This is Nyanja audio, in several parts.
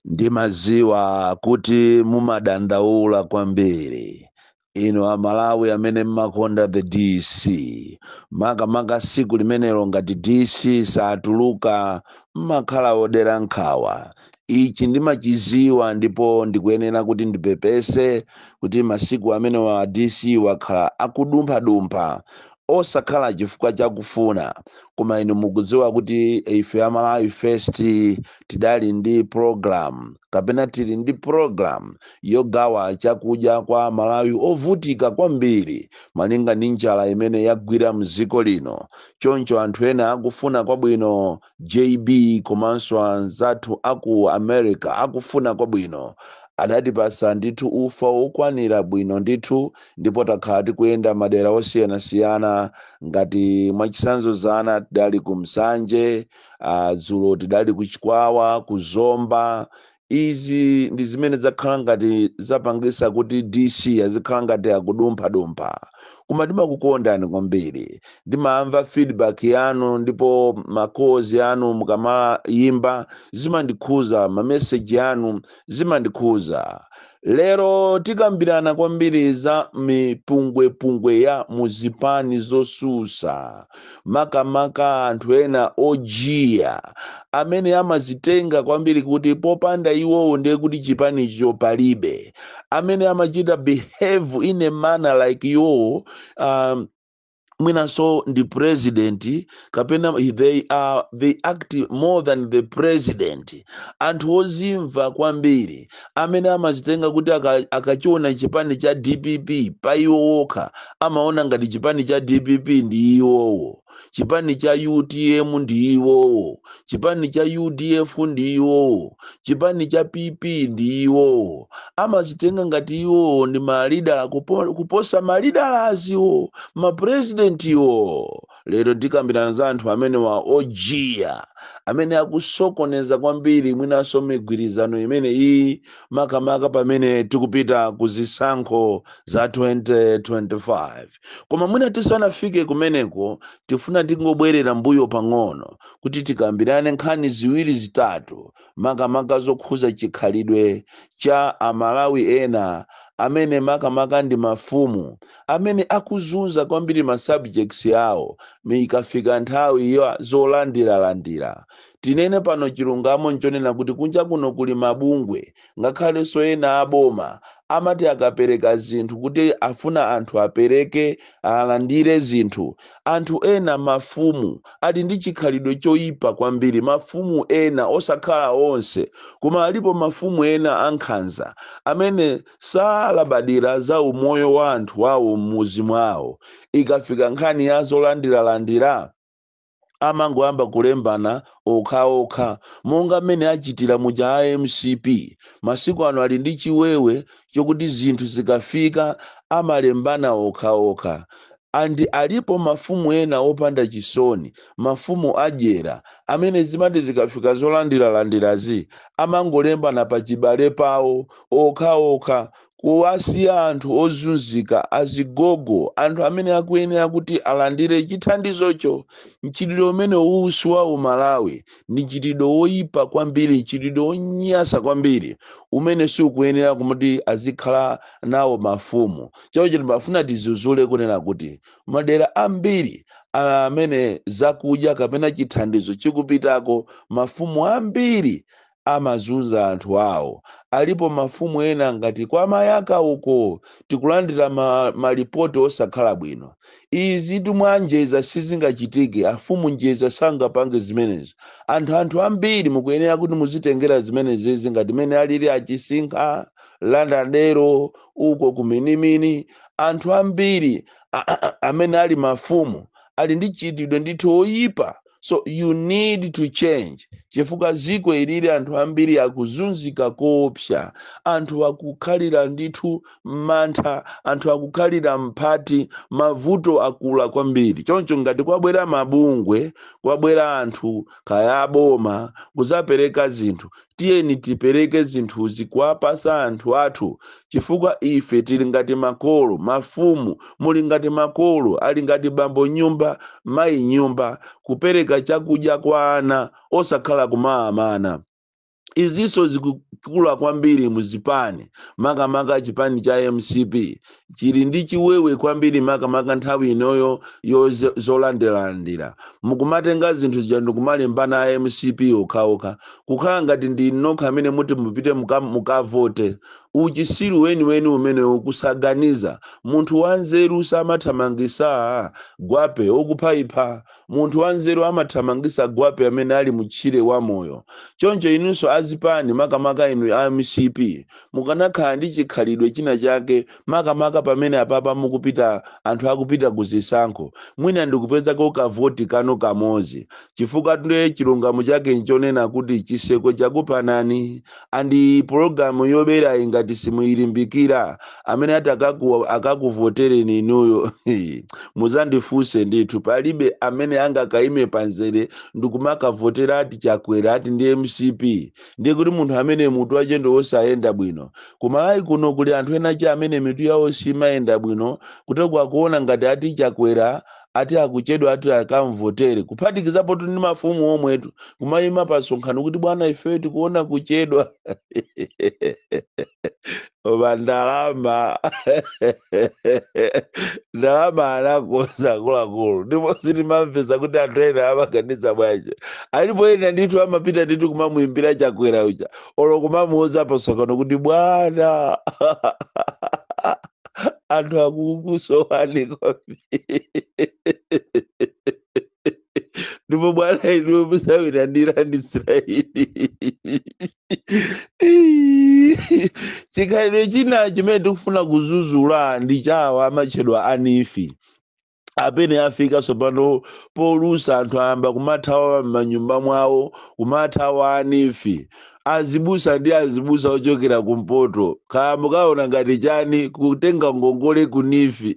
ndimadziwa kuti mumadandaula kwambiri inu amalawi amene mmakonda the dc makamaka siku limenelo ngati dc satuluka mmakhala odera nkhawa ichi ndimachiziwa ndipo ndikuyenera kuti ndipepese kuti masiku amenewa dc wakhala akudumphadumpha osakhala chifukwa chakufuna koma inu mukudziwa kuti ife a malawi first tidali ndi program kapena tili ndi program yogawa chakudya kwa amalawi ovutika kwambiri malinga ndi njala imene yagwira mdziko lino choncho anthu ena akufuna kwabwino JB komanso anzathu a ku America akufuna kwabwino, adatipatsa ndithu ufa wokwanira bwino ndithu ndipo takhala tikuyenda madera osiyanasiyana ngati mwachitsanzo dzana tidali ku Nsanje, ah, dzulo tidali ku Chikwawa, ku Zomba, izi ndi zimene zakhala ngati zapangisa kuti dc azikhala ngati akudumphadumpha koma ndimakukondani kwambiri ndimamva feedback yanu ndipo ma calls anu mukamayimba zimandikhuza mameseji anu zimandikhuza Lero tikambirana kwambiri za mipungwepungwe ya muzipani zosusa makamaka anthu ena ojiya amene amazitenga kwambiri kuti popanda iwowo ndiye kuti chipanicho palibe amene amachita behave in a manner like iwowo um, mwinanso ndi president kapena they are they act more than the president anthu ozimva kwambiri amene amazitenga kuti aka- akachiona chipani cha dpp pa iwo okha amaona ngati chipani cha dpp ndi iwowo chipani cha utm ndi iwowo chipani cha udf ndi iwowo chipani cha pp ndi iwowo amazitenga ngati iwowo ndi malidala kupo- kuposa malidala awowo mapurezidentiwo lero tikambirana za anthu amenewa ojiya amene akusokoneza kwambiri mwinanso migwirizano imeneyi makamaka pamene tikupita ku zisankho za 2025 koma mwina tisanafike kumeneko tifuna tingobwerera mbuyo pang'ono kuti tikambirane nkhani ziwiri zitatu makamaka zokhuza chikhalidwe cha amalawi ena amene makamaka ndi mafumu amene akuzunza kwambiri ma subjects awo ikafika nthawi ya zolandiralandira tinene pano chilungamo nchonena kuti kunja kuno kuli mabungwe ngakhalenso ena a boma amati akapereka zinthu kuti afuna anthu apereke alandire zinthu anthu ena mafumu ali ndi chikhalidwe choyipa kwambiri mafumu ena osakhala onse koma alipo mafumu ena ankhanza amene salabadira za umoyo wa anthu awo m'muzi mwawo ikafika nkhani ya zolandiralandira amangoyamba kulembana okhaokha monga mmene achitira muja a mcp masiku ano ali ndi chiwewe chokuti zinthu zikafika amalembana okhaokha and alipo mafumu ena opanda chisoni mafumu adyera amene zimati zikafika zolandiralandirazi amangolembana pachibale pawo okhaokha kuwasiya anthu ozunzika, azigogo, anthu amene akuyenera kuti alandire chithandizocho. Mchitidwe umenewu si wa uMalawi. Ndi mchitidwe woipa kwambiri, mchitidwe wonyansa kwambiri umene sukuyenera kuti azikhala nawo mafumu. Choncho ndimafuna tidzudzule kunena kuti madera ambiri amene zakudya kapena chithandizo chikupitako, mafumu ambiri amazunza anthu awo. Alipo mafumu ena ngati kwa Mayaka uko tikulandira ma, malipoti osakhala bwino. Izitu kwa njeza sizingachitike, afumu njeza sangapange zimenezo. Anthu anthu ambiri mukuyenera kuti muzitengera zimenezi ngati mene alili achisinkha, landadero, uko kuminimini. Anthu ambiri a- a- a- amene ali mafumu ali ndi mchitidwe ndithu oyipa so you need to change chifukwa ziko ilili anthu ambiri akuzunzika koopsa anthu akukhalira ndithu mantha anthu akukhalira mphati mavuto akula kwambiri choncho ngati kwabwera mabungwe kwabwera anthu kaya aboma kuzapereka zinthu Tiyeni tipereke zinthuzi kuwapasa anthu athu chifukwa ife tili ngati makolo, mafumu, muli ngati makolo, ali ngati bambo m'nyumba, mayi m'nyumba, kupereka chakudya kwa ana osakhala kumawamana. Izinso zikukula kwambiri mu zipani, makamaka chipani cha mcp chili ndi chiwewe kwambiri makamaka nthawi inoyo yo zo- zolandiralandira mukumatenga zinthu zija ndikumalembana a mcp okhaokha kukhala ngati ndi nokha amene muti mupite muka- mukavote uchisiru weniweni umenewo kusaganiza munthu wanzeru samathamangisa gwape wakufaifa Munthu wanzeru amathamangitsa gwape amene ali mu tchire wa moyo. Choncho inunso a zipani makamaka inu a mcp mukanakhala ndi chikhalidwe china chake makamaka pamene apapa mukupita anthu akupita ku zisankho mwina ndikupezako ka voti kanu kamodzi chifukwa nde chilungamo chake nchonena kuti chitseko chakupanani ndi program yoberayi ngati simuyilimbikira amene ati akaku, akakuvotereni inuyo muzandifunse ndithu palibe amene angakaime panzere ndikumakavotera ati chakwera ati ndi mcp ndiye kuti munthu amene mutu wache ndi wosiya kuyenda bwino kumalawi kuno kuli anthu enache amene mitu yawo simayenda bwino kuteko akuona ngati ati chakwera ati akuchedwa ati akamvotere kuphatikizapotu ndi mafumu omwetu kumayima pa msonkhano kuti bwana ife tikuona kuchedwa koma ndalama ndalama anakonza akuluakulu ndipo sitimamvesa kuti anthu ena amaganiza bwanji alipo ena ndithu amapita ndithu kumamuyimbira chakwera uja olo kumamuuza pa msonkhano kuti bwana anthu akukusowani kwambiri ndipo bwana inu musawirandira ndi israeli chikhalidwe china chimene tikufuna kuzuzula ndi chawa amatchedwa anifi amene afika tsopano polusa anthu ayamba kumathawa m'manyumba mwawo kumathawa anifi azibusa ndi azibusa ochokera kumpoto kaya akuona ngati chani kutenga ngongole kunifi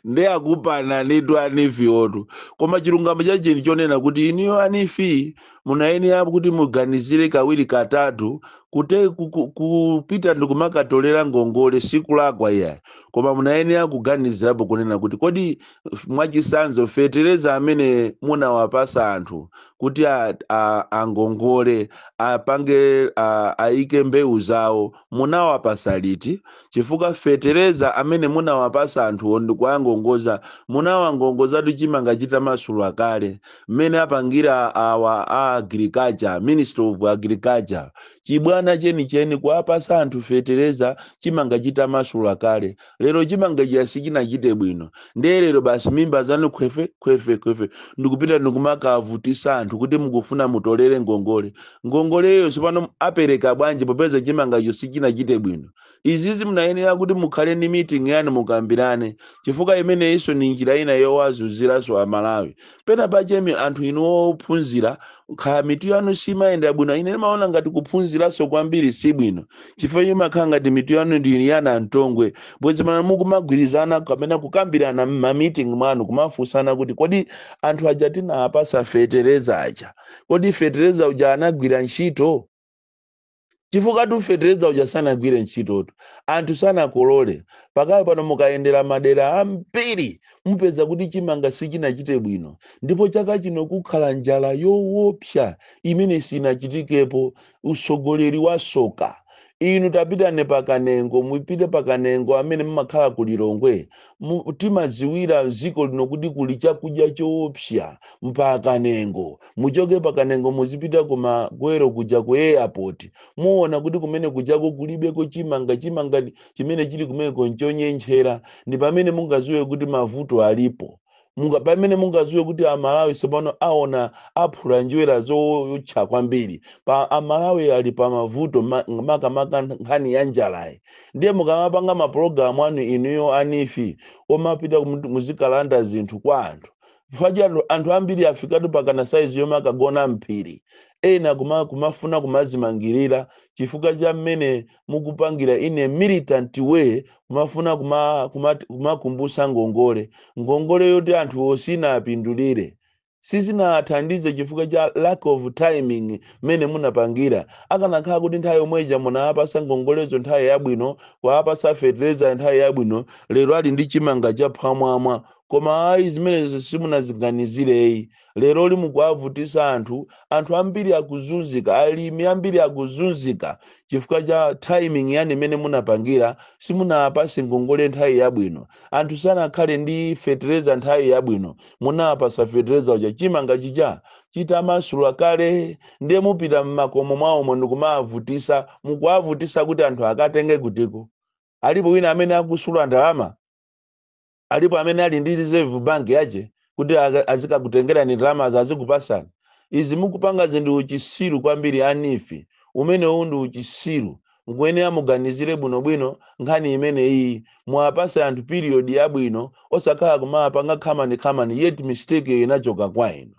ndi akupana nitu anifi otu koma chilungamo chake nchi chonena kuti inuyo anifi munayenera kuti muganizire kawiri katatu kute ku- ku- kupita ndikumakatolera ngongole sikulakwa iyayi koma munayenera kuganizirapo kunena kuti kodi f- mwachisanzo fetereza amene munawapasa anthu kuti a- a- angongole apange a- aike mbewu zawo munawapasa liti chifukwa fetereza amene munawapasa anthuwo ndikuwangongoza munawangongozatu chimanga chitamasula kale mmene apangira awa a agriculture ministry of agriculture chibwana chenicheni kuwapasa anthu fetereza chimanga chitamasula kale lero chimanga chija sichinachite bwino ndiye lero basi mimba zanu khwefe khwefe khwefe ndikupita ndikumakavutisa anthu kuti mukufuna mutolere ngongole ngongoleyo tsopano apereka bwanji popeza chimangacho sichinachite bwino izizi munayenera kuti mukhale ndi meeting yanu mukambirane chifukwa imeneyinso ni njira ina yowazunziranso amalawi pena pake anthu inu ophunzira kaya mitu yanu simayenda bwino ine ndimaona ngati kuphunziranso kwambiri si bwino chifukwa imakhala ngati mitu yanu ndi yana mtongwe bwezi mana mukumagwirizana kapena kukambirana m'mameeting mwanu kumafunsana kuti kodi anthu aja tinawapasa fetereza aja kodi fetereza uja anagwira ntchito chifukwatu fetereza uja sanagwire ntchitotu anthu sanakolole pakali pano mukayendera madera ambiri mupeza kuti chimanga sichinachite bwino ndipo chaka chino kukhala njala yowopsa imene sinachitikepo utsogoleri wasoka inu tapitani pakanengo mupite pakanengo amene mumakhala ku lilongwe mu- timadziwira dziko lino kuti kuli chakudya choopsa mpakanengo muchoke pakanengo muzipita kumagwero kuja ku airport muona kuti kumene kujako kulibeko chimanga chimanga ndi- chimene chili kumeneko nchonyentchera ndi pamene mungadziwe kuti mavuto alipo munga pamene mungaziwe kuti amalawi tsopano aona aphula njerwa zootcha kwambiri pa amalawi ali pa mavuto ma- makamaka nkhani ya njalayi ndiye mukamapanga mapulogalamu anu inuyo a neef omapita kumu- muzikalanda zinthu kwa anthu chifukwa cha anthu anthu ambiri afikatu pakana saizi yomwe akagona mphiri ena kuma, kumafuna kumazimangirira chifukwa cha mmene mukupangira in a militant way kumafuna kuma- kuma- kumakumbutsa ngongole ngongole yoti anthu sinawapindulire sizinawathandize chifukwa cha lack of timing mmene munapangira akanakhala kuti nthawi yomweja munawapasa ngongolezo nthawi yabwino kuwapasa fetereza nthawi yabwino lero ali ndi chimanga cha phwamwamwa koma ayi zimenezo simunaziganizireyi leroli mukuwavutisa anthu anthu ambiri akuzunzika alimi ambiri akuzunzika chifukwa cha timing yanu imene munapangira simunawapase ngongole nthawi yabwino anthu sanakhale ndi fetereza nthawi yabwino munawapasa fetereza uja chimanga chija chitamasula kale ndiye mupita mmakomo mwawomo ndikumawavutisa mukuwavutisa kuti anthu akatenge kutiko alipo wina amene akusula ndalama alipo amene ali ndi reserve bank yache kuti aka- azikakutengerani ndalamazo azikupasani izi mukupangazi ndi uchisiru kwambiri a neef umenewu ndi uchisiru mukuyenera muganizire bwinobwino nkhani imeneyi muwapase anthu period yabwino osakhala kumapanga khamani khamani yet mistake inachoka kwa inu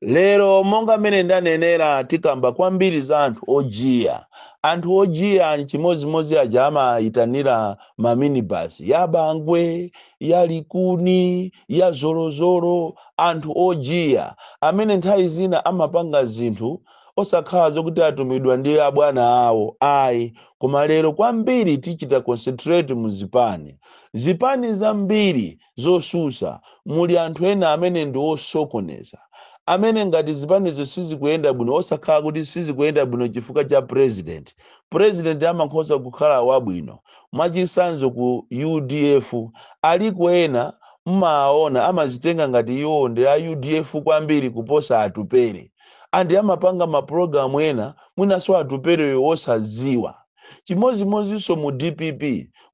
lero monga mmene ndanenera tikamba kwambiri za anthu ojiya anthu ojiya ni chimodzimodzi aja amayitanira maminibasi ya bangwe ya likuni ya zolozolo anthu ojiya amene nthawi zina amapanga zinthu osakhala zokuti atumidwa ndi abwana awo ayi koma lero kwambiri tichita concentrate mu zipani zipani zambiri zotsutsa muli anthu ena amene ndi osokoneza amene ngati zipanizo sizikuyenda bwino osakhala kuti sizikuyenda bwino chifukwa cha president president amakhoza kukhala wabwino mwachitsanzo ku udf aliko ena mmaona amadzitenga ngati iwo ndi a udf kwambiri kuposa atupere and amapanga mapulogalamu ena mwinanso atupereyo osadziwa chimodzimodzinso mu dpp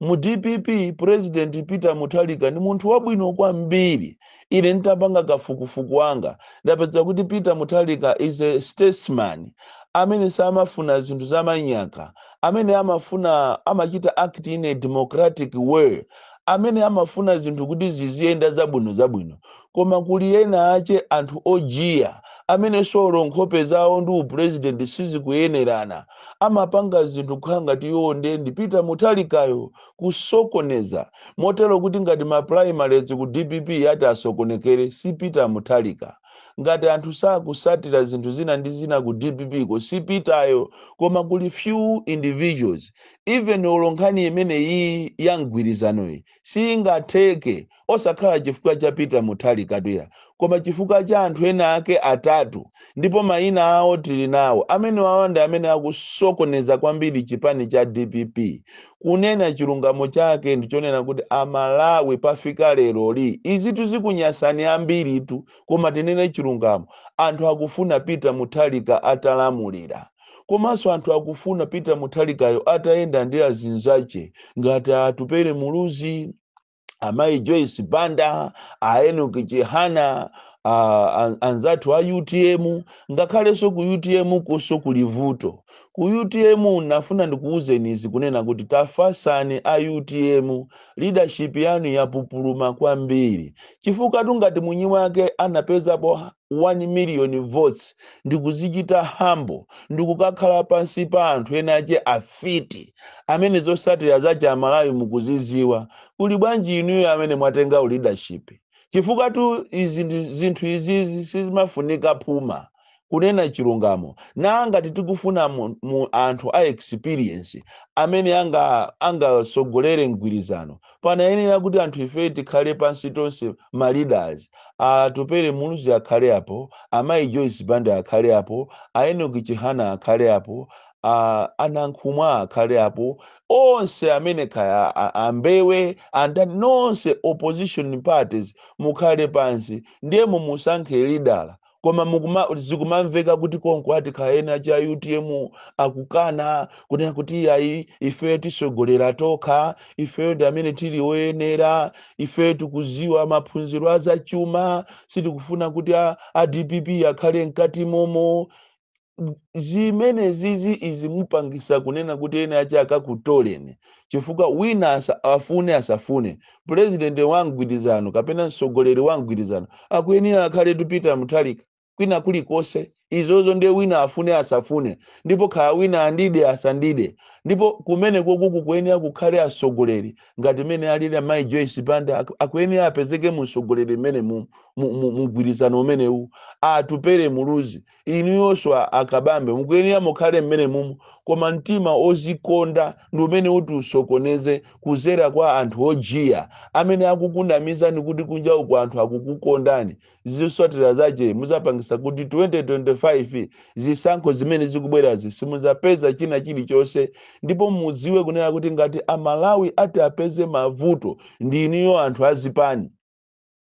mu dpp president peter mutharika ndi munthu wabwino kwambiri ine nditapanga kafukufuku wanga ndapeza kuti peter mutharika is a statesman amene samafuna zinthu zamanyaka amene amafuna amachita act in a democratic way amene amafuna zinthu kuti ziziyenda zabwinozabwino koma kuli ena ache anthu ojiya amenenso olo nkhope zawo ndi upulezidenti sizikuyenerana amapanga zinthu kukhala ngati iwowo ndiye ndi peter mutharikayo kusokoneza motero kuti ngati ma primaries ku dpp yati isokonekere si peter mutharika ngati anthu sakutsatira zinthu zina ndi zina ku dppko si peteryo koma kuli few individuals even olo nkhani imene iyi ya mgwirizanoyi singatheke osakhala chifukwa cha peter mutharikatu ayi koma chifukwa cha anthu ena ake atatu ndipo mayina awo tili nawo amenewawa ndi amene akusokoneza kwambiri chipani cha dpp kunena chilungamo chake ndichonena kuti amalawi pafika leroli izitu zikunyasani ambiritu koma tinene chilungamo anthu akufuna peter mutharika atalamulira komanso anthu akufuna peter mutharikayo atayenda ndi azinzache ngati atupere muluzi amayi joyce banda a enoki chihana a, a, anzathu a utm ngakhalenso ku utm konso kuli vuto ku utm nafuna ndikuwuzeni izi kunena kuti tafasani a utm leadership yanu yapupuluma kwambiri chifukwatu ngati mwini wake anapezapo 1 million votes ndikudzichita humble ndikukakhala pansi pa anthu ena ache afiti amene zotsatira zache amalawi mukuzidziwa kuli bwanji inuyo amene mwatenga leadership chifukwatu zinthu izizi sizimafunika phuma kunena chilungamo na ngati tikufuna mu, mu anthu a experience amene anga angatsogolere mgwirizano panayenera kuti anthu ife tikhale pansi tonse ma leaders atupere muluzi akhale apo amayi joyce banda akhale apo aenoki chihana akhale apo a- anankhumwa akhale apo onse amene kaya a- ambewe andani nonse opposition parties mukhale pansi ndiye mumusankhe leader koma zikumamveka kuti konko ati kaya ena a utm akukana kunena kuti iyayi ifeyo tisogolera tokha ifeyo ndi amene tili oyenera ifeyo tikuziwa maphunziro azachuma sitikufuna kuti a, a dpp akhale mkati momo zimene zizi izi mupangisa kunena kuti eni ake akakutoleni chifukwa wina asa, afune asafune pulezidenti wa mgwirizano kapena mtsogoleri wa mgwirizano akuyenera akhale tu peter mutharika kwina kulikonse izozo ndiye wina afune asafune ndipo kaya wina andide asandide ndipo kumeneko kuku kuyenera kukhale atsogoleri ngati mene alili amayi joyce banda aku- akuyenera apezeke musogoleri mmene mu- mu- mu- mugwirizano umenewu atupere muluzi inuyonso akabambe mukuyenera mukhale mmene mumu koma mtima ozikonda ndi umene uti usokoneze kuzera kwa anthu ojiya amene akukunamizani kuti kunja kuno anthu akukukondani zosatira zake muzapangisa kuti 2025 zisankho zimene zikubwerazi simuzapeza china chilichonse ndipo mudziwe kunena kuti ngati amalawi ati apeze mavuto ndi inuyo anthu azipani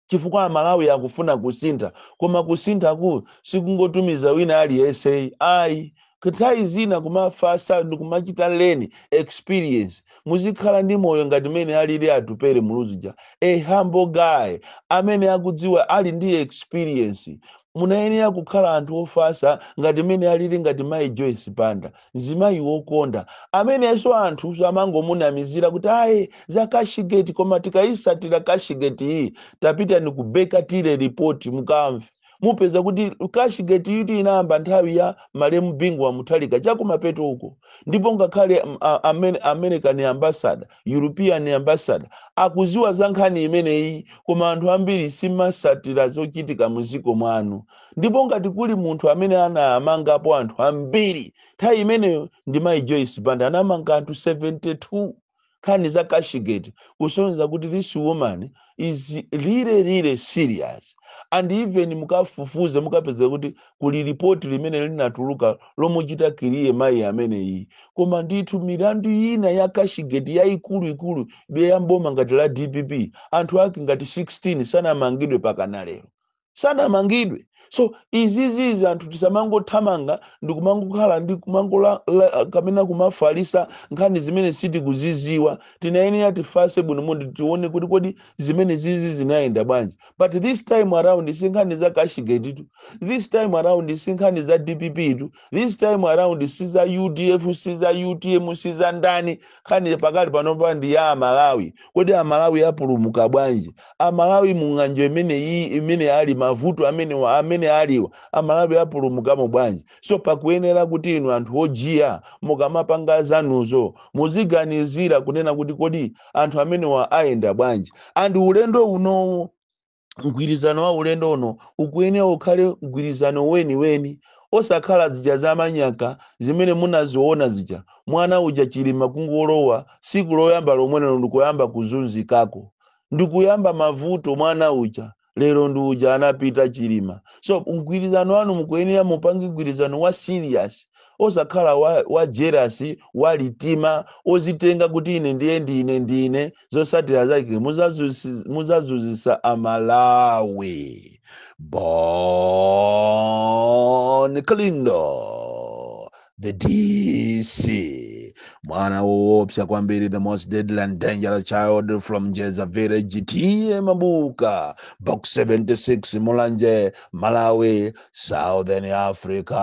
chifukwa amalawi akufuna kusintha koma kusinthaku sikungotumiza wina aliyense ayi nthawi zina kumafasa ndikumachita leni experience muzikhala ndi moyo ngati mene alili atupere muluzija a humble guy amene akudziwa ali ndi experience munayenera kukhala anthu ofasa ngati mene alili ngati mai joyce banda mzimayi wokonda amenenso anthu amangomunamizira kuti ayi za kashigeti koma tikayisatira kashigeti iyi tapitani ku Baker Tilly report mukamve mupeza kuti kashigeti iyi inayamba nthawi ya malemu bingu wa muthalika chakumapeto uko ndipo ngakhale mm, a- Amer- american ambassador european ambassador akuziwa za nkhani imeneyi koma anthu ambiri simusatira zochitika muziko mwanu ndipo ngati kuli munthu amene anamangapo anthu ambiri nthawi imeneyo ndi mayi joyce banda anamanga anthu 72 nkhani za cashgate kusonyeza kuti this woman is really really serious and even mukafufuze mukapeza kuti kuli ripoti limene linatuluka lomuchita kiriye mayi ameneyi koma ndithu milandu ina ya cashgate yaikuluikulu ya m'boma ngati la dpp anthu ake ngati 16 sanamangidwe pakana lero sanamangidwe so izizizi anthu tisamangothamanga ndi kumangokhala ndi kumangola la- kapena kumafalisa nkhani zimene sitikuziziwa tinayenera tifase bwino ndi tione kuti kodi zimene zizi zinayenda bwanji but this time around si nkhani za cashgate tu this time around si nkhani za dpp tu this time around si za udf si za utm si za ndani nkhani pakali panopa ndi ya amalawi kodi amalawi apulumuka bwanji amalawi mung'anjo imene iyi imene ali mavuto amene wa- amene aliwa amalawi apulumukamo bwanji so pakuyenera kuti inu anthu ojiya mukamapanga zanuzo muziganizira kunena kuti kodi anthu amenewa ayenda bwanji and ulendo unowo mgwirizano wa ulendo uno ukuyenera ukhale mgwirizano weniweni osakhala zija zamanyaka zimene munaziona zija mwana uja chilima kungolowa siku loyamba lomwelero ndikuyamba kuzunzikako ndikuyamba mavuto mwana uja lero ndi uja anapita chilima so mgwirizano wanu mukuyenera mupange mgwirizano wa serious osakhala wa, wa jealous wa litima ozitenga kuti ine ndiye ndine ndine zosatira zake muzazusi- muzazunzisa amalawi bon kalindo the dc mwana woopsa kwambiri the most deadly and dangerous child from njedza village t a mabuka box 76 mulanje malawi southern africa